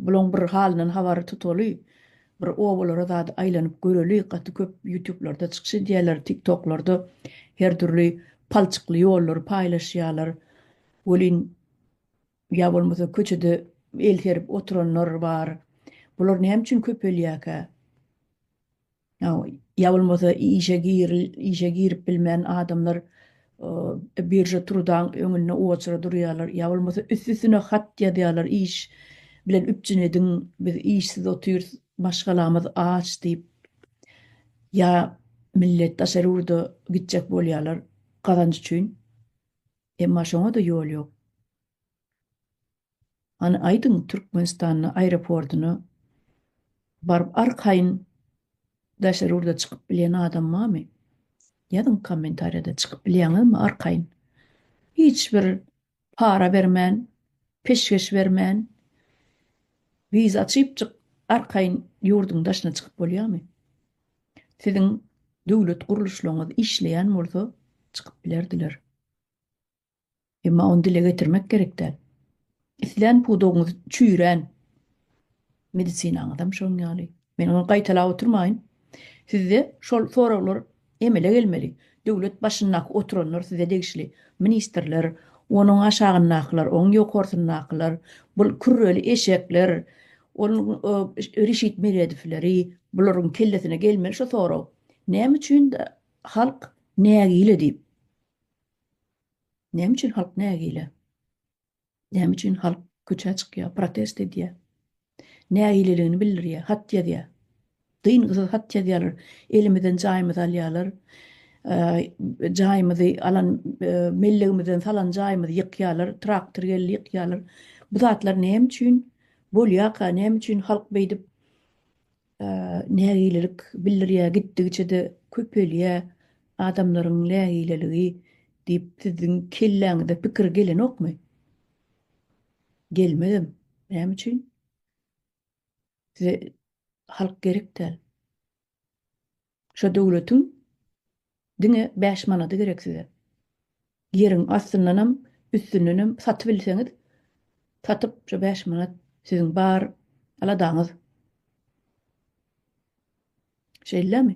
Bulaň bir halyndan habary tutaly bir obalara zady aýlanyp göreli gaty köp ýutublarda çykyş edýäler tik toklarda her dürli palçykly ýollary paýlaşýalar welin ýa bolmasa köçede el serip oturanlar bar bular näme üçin köpelýäkä. ýa bolmasa işe giril, işe girip bilmän adamlar birža trudaň öňünde oçura durýarlar, ýa bolmasa üst-üstüne hat ýazýarlar, iş bilen üpjün ediň, biz işsiz otyrys, maşgalamyz aç diýip, ýa millet daşary ýurda gitjek bolýarlar gazanç üçin, emma şoňa-da ýol ýok. Hany aýdyň Türkmenistanda aeroportyna baryp arkaýyn daşary ýurda çykyp bilýän adam barmy? Ýazyň kommentariýada çykyp bilýäňizmi arkaýyn? Hiç bir para bermän, peşgeş bermän wiza çypjyk arkaýyn ýurduň daşyna çykyp bolýamy? Siziň döwlet gurluşlaryňyz işleýän bolsa çykyp bilerdiler. Emma ony dile getirmek gerek däl. Islän pudagyňyz çüýrän, medisinaňyzam şoň ýaly. Men ony gaýtalap oturmaýyn. Sizde şol soraglar emele gelmeli. Döwlet başyndaky oturanlar size degişli. Ministrler, onuň aşagyndakylar, onuň ýokarsyndakylar, bul kürreli eşekler, ol Reşit Meredowleri, bularyň kellesine gelmeli şu sorag. Näme üçin halk nägile diýip. Näme üçin halk nägile? Näme üçin halk köçä çykýar, protest edýär? Nägileligini bildirýär, hat ýazýar. Dyngysyz hat ýazýarlar, elimizden jaýymyzy alýarlar, jaýymyzy alan mellegimizden salan jaýymyzy ýykýarlar, traktor geldi ýykýarlar. Bu zatlar näme üçin bolýarka, näme üçin halk beýdip nägilelik bildirýär, gitdigiçe-de köpelýär adamlaryň nägileligi diýip siziň kelläňize pikir gelenokmy? Gelmezem. Näme üçin? Size halk gerek däl. Şo döwletiň diňe bäş manady gerek size. Ýeriň astyndanam, üstündenem satybilseňiz, satyp şo bäş manat siziň bar aladaňyz. Şeýlemi?